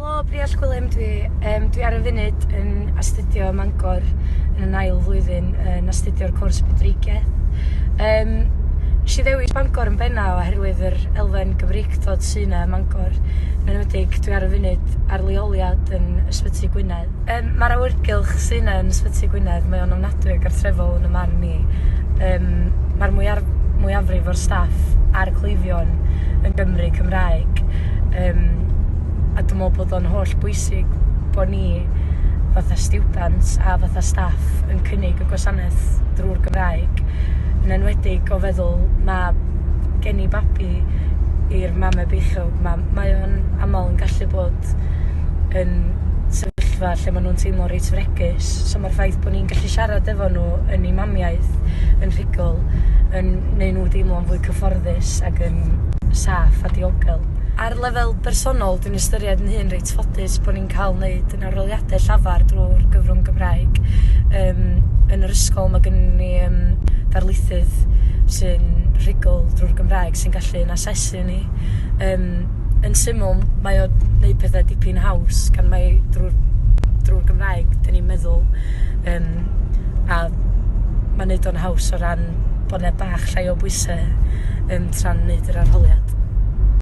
Helo, Briall Gwilym dwi. Um, dwi ar y funud yn astudio ym Mangor yn yn ail flwyddyn yn astudio'r cwrs Budreigiaeth. Um, nes i ddewis Bangor yn bennaf oherwydd yr elfen Gymreictod sy'n yna ym Mangor. Yn enwedig, dwi ar y funud ar leoliad yn Ysbyty Gwynedd. Yym ma'r awyrgylch sy 'na yn Ysbyty Gwynedd, mae o'n ofnadwy o gartrefol yn 'y marn i. Yym ma'r mwyar- mwyafrif o'r staff a'r cleifion yn Gymry Cymraeg yym a dwi me'wl bod o'n holl bwysig bo' ni fatha stiwdant a fatha staff yn cynnig y gwasanaeth drw'r Gymraeg, yn enwedig o feddwl ma' gen i babi i'r mame beichiog 'ma mae o'n amal yn gallu bod yn sefyllfa lle maen nhw'n teimlo reit fregus. So mae'r ffaith bod ni'n gallu siarad efo nhw yn ei mamiaeth yn rhugl yn neud nhw deimlo'n fwy cyfforddus ac yn saff a diogel. Ar lefel bersonol, dwi'n ystyried yn hun reit ffodus bod ni'n cael wneud yn aroliadau llafar drwy'r gyfrwng Gymraeg. Um, yn yr ysgol mae gen ni um, darlithydd sy'n rhugl drwy'r Gymraeg sy'n gallu yn asesu ni. Um, yn syml, mae o neud pethe dipyn haws gan mae drw'r drw'r Gymraeg 'dyn ni'n meddwl yym a ma'n neud o'n haws o ran bo' 'na bach llai o bwyse yn tra'n neud yr arholiad.